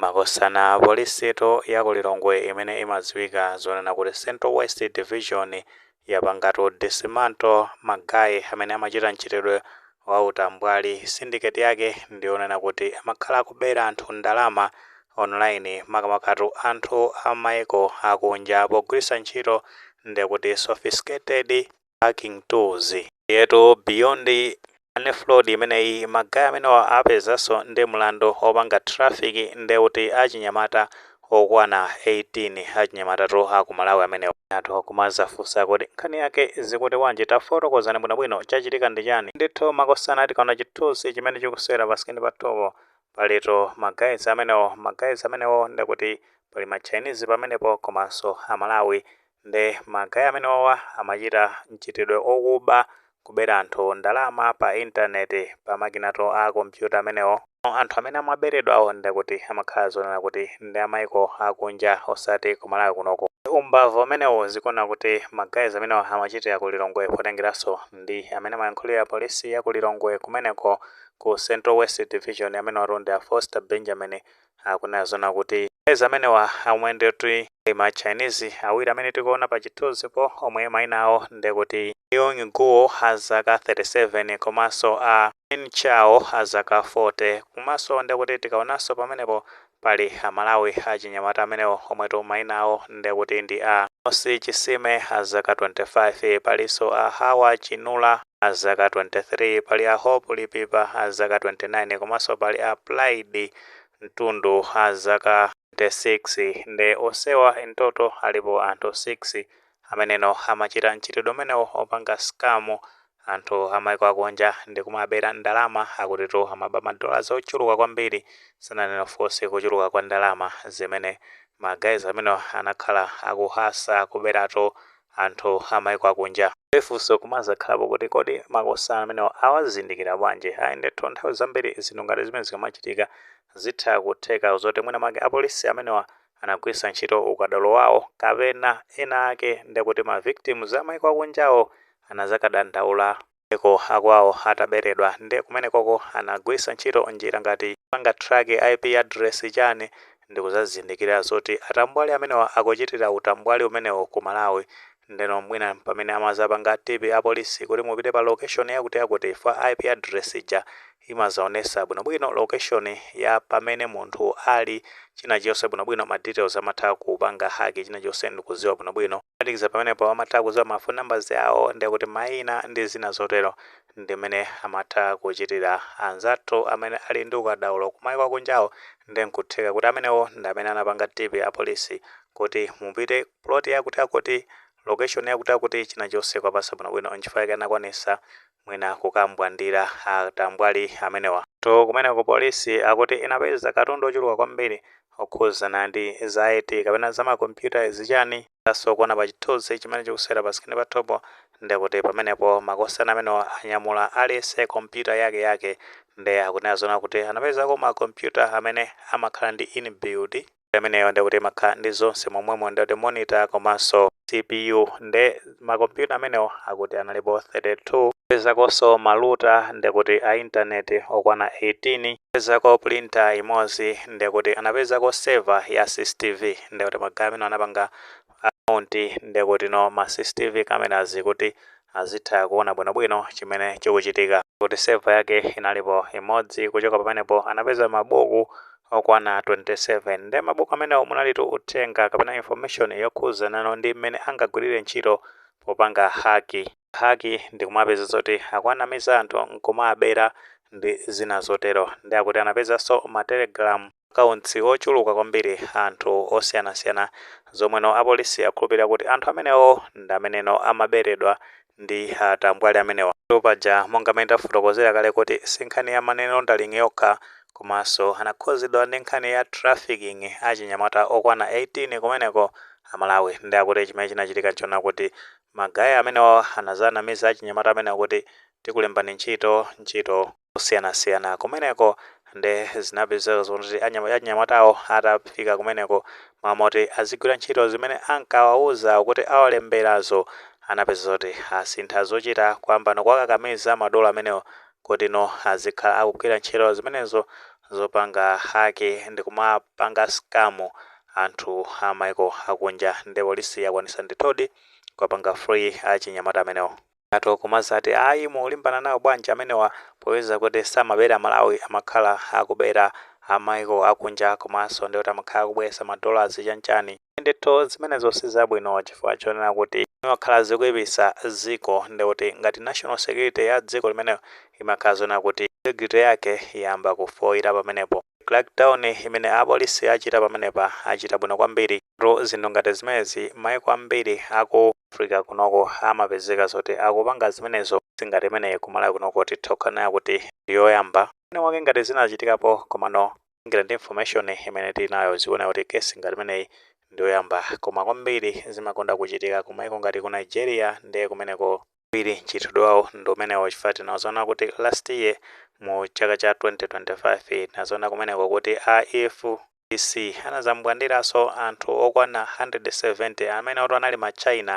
Makosana polisitu ya ku Lilongwe imene imadziwika zonena kuti Central West Division yapangatu dismantle ma guy amene amachita mchitidwe wa utambwali. Syndicate yake ndi yonena kuti amakhala akubera anthu ndalama online makamakatu anthu a m'maiko akunja pogwiritsa ntchito ndekuti sophisticated, hacking tools. Ndiyetu beyond Money fraud imeneyi magayi amenewa apezekanso ndi mlandu opanga traffic nde kuti achinyamata okwana 18 achinyamatatu akumalawi amenewa. Anthu nkumazafunsa kuti nkhani yake ikuti bwanji tafotokozani bwinobwino chachitika ndi chani ndithu makosana tikaona chithunzi chimene chikusewera pasikini pathupo palitu magayizi amenewo magayizi amenewo ndekuti pali ma chinese pamenepo komanso amalawi Nde ma guy amenewa awa amachita mchitidwe okuba, kubera anthu ndalama pa internet pa makinatu a computer amenewo. Anthu amene amaberedwawo ndekuti amakhala zonena kuti ndi a maiko akunja osati ku Malawi kunoku. Umbava umenewo zikuoneka kuti ma guys amenewa amachitira ku Lilongwe potengeranso ndi amene amayankhulira polisi ya ku Lilongwe kumeneko ku Central West Division amenewatu ndi a Foster Benjamin akunena zonena kuti ma guys amenewa omwe ndikuti ndi ma Chinese awiri amene tikuona pa chithunzipo omwe maina awo ndekuti Yong Guo a zaka 37 komanso a Min Chao a zaka 40 komanso ndekuti tikaonanso pamenepo pali Amalawi achinyamata amenewa omwetu maina awo ndekuti ndi a Mosi Chisime a zaka 25 palinso a Hawa Chinula a zaka 23, pali a Hope Lipipa a zaka 29 komanso pali a Pride Mtundu a zaka 26 nde onsewa in total alipo anthu 6 amenenso amachita mchitidwe umenewo opanga scam anthu amaiko akunja ndikumawabera ndalama akutitu amaba ma dollars ochuluka kwambiri sananene of course kuchuluka kwa ndalama zimene ma guys amenewa anakhala akuhasula kuberatu anthu a maiko akunja. Nde funso nkumazakhalapo kuti kodi makosana amenewa awazindikira bwanji? Ayi ndithu nthawi zambiri zinthu ngati zimenezi zikamachitika zitha kutheka zoti mwina mwake apolisi amenewa anagwisa ntchito ukadaulo wawo kapena ena ake ndekuti ma victims a maiko akunjawo anazakadandaula maiko akwawo ataberedwa nde kumenekoko anagwisa ntchito njira ngati kupanga track IP address chani ndikuzazindikira zoti atambwali amenewa akuchitira utambwali umenewo ku Malawi ndeno mwina ndi pamene amazapanga tip apolisi kuti mupite pa location yakuti yakuti chifukwa IP address ija imazaonesa bwinobwino location ya pamene munthu ali chinachonse bwinobwino ma details amatha kupanga hack chinachonse ndikuziwa bwinobwino Phatikiza pamenepo amatha kudziwa ma phone numbers awo ndikuti maina ndi zina zotero. Ndimene amatha kuchitira anzathu amene ali ndi ukadaulo kumaiko akunjawo nde nkutheka kuti amenewo ndi amene anapanga tip apolisi kuti mupite plot yakutiyakuti, location yakutiyakuti chinachilichonse kuwapatsa bwinobwino nchifukwa chake anakwanitsa mwina kukambwandira a tambwali amenewa. To kumeneko police akuti inapeza katundu ochuluka kwambiri okhuzana ndi za IT kapena za ma computer zichani? Muthaso kuona pa chithuzi chimene chikusewera pa screen pathupo ndekuti pamenepo makosana amenewa anyamula aliyense computer yake yake nde akunena zoona kuti anapezako ma computer amene amakhala ndi inbuild imeneyo nde kuti imakhala ndi zonse momwemo nde kuti monitor komanso cpu nde makompyuta amenewo akuti analipo 32 anapezakonso maluta nde kuti a intaneti okwana 18 anapezako pulinta imodzi nde kuti anapezako seva ya cctv nde kuti magaye amenewa anapanga akaunti nde kutino ma cctv cameras kuti azitha kuona bwinobwino chimene chikuchitika. Kuti seva yake inalipo imodzi kuchoka pamenepo anapeza mabuku okwana 27 nde mabuku amenewo munalitu uthenga kapena information yokhuzanano ndi mmene angagwirire ntchito popanga haki. Haki ndi kumapeza zoti akawanamiza anthu nkumawabera ndi zina zotero. Nde akuti anapezanso ma telegram. akaunts ochuluka kwambiri a anthu osiyanasiyana zomweno apolisi akhulupilira kuti anthu amenewo ndi ameneno amaberedwa ndi atambwali amenewa. Paja monga m'mene tafotokozera kale kuti sinkhani ya money laundering yokha komanso anakhuzidwa ndi nkhani ya trafficking achinyamata okwana 18 kumeneko a Malawi nde akuti chimene chinachitika nchonena kuti magaye amenewa anazanamiza achinyamata amenewa kuti tikulembani ntchito, ntchito. zosiyanasiyana kumeneko nde zinapezeka zoti achinyamatawo atafika kumeneko mmalo moti azigwira ntchito zimene ankawauza kuti awalemberazo anapezeka zoti asintha zochita kuyambano kuwakakamiza madolo amenewo kutino azikhala akugwira ntchito zimenezo zopanga haki ndikumapanga skamu anthu a maiko akunja nde polisi yakwanisa ndithudi kuwapanga free achinyamata amenewo. Atha kumazati ayi mukulimbana nawo bwanji amenewa popeza kuti samabera aMalawi amakhala akubera a maiko akunja komanso ndekuti amakhala akubweresa ma dollars chanichani ndithu zimenezo sizabwino chifukwa chonena kuti zimakhala zikuipisa dziko ndekuti ngati national security ya dziko limeneli imakhala zonena kuti integrity yake yayamba kufoira pamenepo crack down imene a police achita pamenepa achita bwino kwambiri zinthu ngati zimenezi maiko ambiri aku Africa kunoko amapezeka zoti akupanga zimenezo singati imene kumalawi kunoko titha kunena kuti ndiyoyamba mwina mwake ngati zinachitikapo komano ngati ndi information imene tili nayo zikuoneka kuti case ngati imeneyi ndiyoyamba koma kwambiri zimakonda kuchitika kumaiko ngati ku Nigeria ndiye kumeneko kwambiri mchitidwe wawo ndi umenewo chifukwa tinazoona kuti last year mu chaka cha 2025 tinazoona kumeneko kuti a EF CC anadzambwandiranso anthu okwana 170 amenewotu anali ma China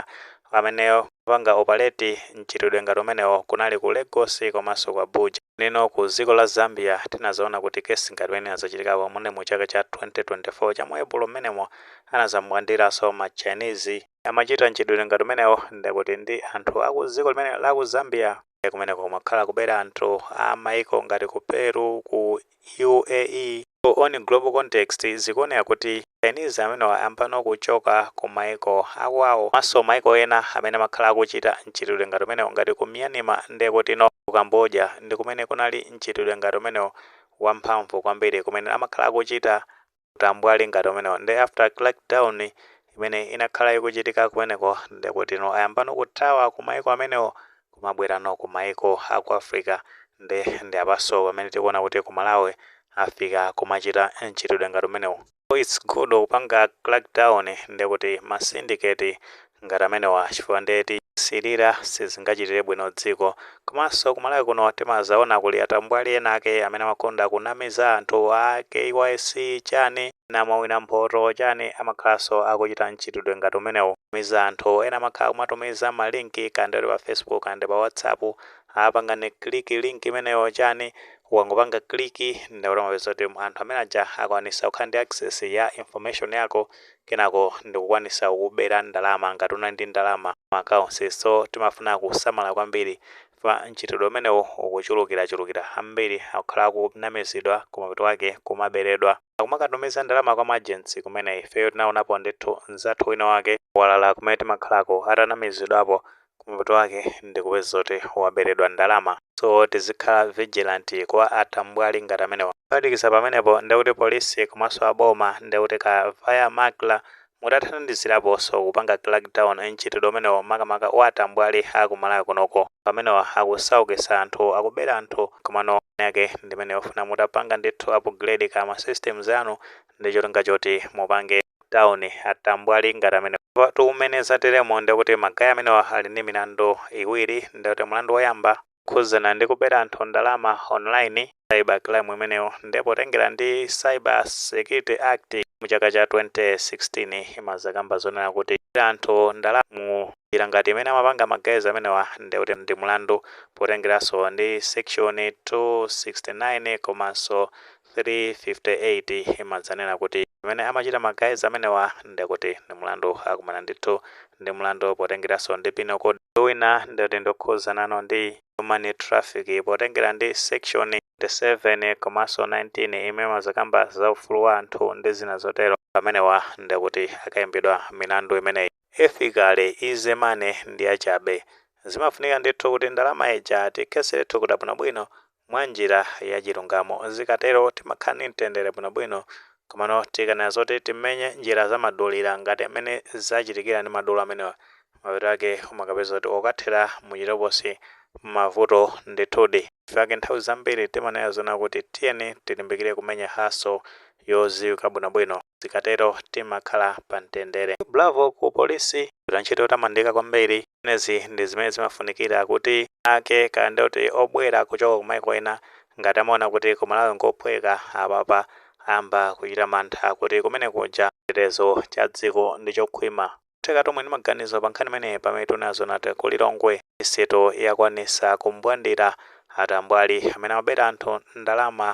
amene amapanga operate mchitidwe ngati umenewo kunali ku Lagos komanso ku Abuja. Nde no ku dziko la Zambia tinadzaona kuti case ngati imene inadzachitikapo munali mu chaka cha 2024 cha mu Epulo mmenemo anadzambwandiranso ma Chinese amachita mchitidwe ngati umenewo ndekuti ndi anthu aku dziko limeneli la ku Zambia. Ndiye kumeneko kumakhala kubera anthu a maiko ngati ku Peru, ku UAE. So on global context zikuoneka kuti Chinese amenewa ayambano kuchoka ku maiko akwawo komanso maiko ena amene amakhala akuchita mchitidwe ngati umenewu ngati ku Myanmar ndekuti no ku Cambodia ndi kumene kunali mchitidwe ngati umenewu wamphamvu kwambiri kumene amakhala akuchita utambwali ngati umenewo nde after crackdown imene inakhala ikuchitika kumeneko ndekutino ayambano kuthawa ku maiko amenewo kumabwerano ku maiko a ku africa nde ndi apanso pamene tikuona kuti ku malawi afika kumachita mchitidwe ngati umenewu so its good kupanga crackdown ndekuti ma syndicate ngati amenewa chifukwa nde tikasilira sizingachitire bwino dziko. Komanso ku Malawi kuno timazaona kuli atambwali ena ake amene amakonda kunamiza anthu a KYC chani ena mwawina mphoto chani amakhalanso akuchita mchitidwe ngati umenewu miza anthu ena amakhala kumatumiza ma link kaya ndi oti pa Facebook kaya ndi pa WhatsApp a pangani click link imeneyi chani ukangopanga click ndekuti umapeza kuti anthu amene aja akwanisa kukhala ndi access ya information yako kenako ndikukwanisa kukubera ndalama ngati unali ndi ndalama m'ma accounts so timafuna kusamala kwambiri chifukwa mchitidwe umenewu ukuchulukirachulukira ambiri akukhala akunamizidwa kumapeto kwake kumaberedwa akumakatumiza ndalama kwa maagents kumene ifeyo tinaonapo ndithu mzathu wina wake kwalala kumene timakhalako atanamizidwapo Kumapeto wake ndikupeza zoti waberedwa ndalama so tizikhala vigilant kwa atambwali ngati amenewa. Kuphatikiza pamenepo ndekuti police komanso a boma ndekuti ka via MACRA mutathandiziraponso kupanga crackdown mchitidwe umenewo makamaka wa atambwali a ku Malawi kunoko. Amenewa akusaukisa anthu, akubera anthu komano nkhani yake ndimene yofuna mutapanga ndithu upgrade ka ma systems anu ndicholinga choti mupange. town atambwali ngati amenewa tu mmene zateremo ndekuti magaya amenewa ali ndi milandu iwiri ndekuti mlandu woyamba okhudzana ndi kubera anthu ndalama online cyber crime imeneyo nde potengera ndi cyber security act mu chaka cha 2016 imazakamba zonena kuti kubera anthu ndalama mu njira ngati imene amapanga ma guys amenewa ndekuti ndi mlandu potengeranso ndi section 269 komanso 358 imadzanena kuti zimene amachita ma guys amenewa nde kuti ndi mulandu akumana ndithu ndi mulandu potengeraso ndi penal code wina ndekuti ndi okhudzanano ndi human trafficking potengera ndi section 27 komaso 19 imene imazakamba za ufulu wa anthu ndi zina zotero pamenewa ndekuti akayimbidwa milandu imeneyi. Basically easy money ndiyachabe. Zimafunika ndithu kuti ndalama ija tiikhetsere thukuta bwinobwino mwanjira yachilungamo. Zikatero timakhala ndi mtendere bwinobwino. Komano tikanena zoti timenye njira zamadulira ngati mmene zachitikira ndi madolo amenewa, mapeto ake umakapeza kuti wokathera muchitokosi mavuto ndithudi. Nchifukwa chake nthawi zambiri timanena zonena kuti tiyeni tilimbikire kumenya hustle yodziwika bwinobwino. zikatero timakhala pa mtendere. Bravo ku police mwagwira ntchito yotamandika kwambiri zimenezi ndi zimene zimafunikira kuti anzake kaya ndi oti obwera kuchoka ku maiko ena ngati amaona kuti ku Malawi nkophweka apapa ayamba kuchita mantha kuti kumene kuja chitetezo cha dziko ndi chokhwima. Tikamve nawo maganizo pa nkhani imeneyi pamene tinazonati ku Lilongwe miseto yakwanisa kumbwandira atambwali amene amabera anthu ndalama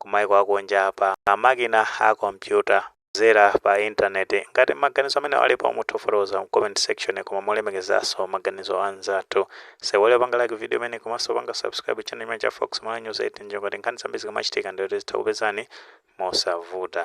kumaiko akunja pa makina a kompyuta kudzera pa internet ngati maganizo amene alipo mutha kufotokoza mu comment section koma molemekezanso maganizo anzathu osaiwala kupanga like video imeneyi komanso kupanga subscribe channel chimenechi cha Fox Malawi News ndi cholinga choti nkhani zambiri zikamachitika ndiyo tizitha kukupezani mosavuta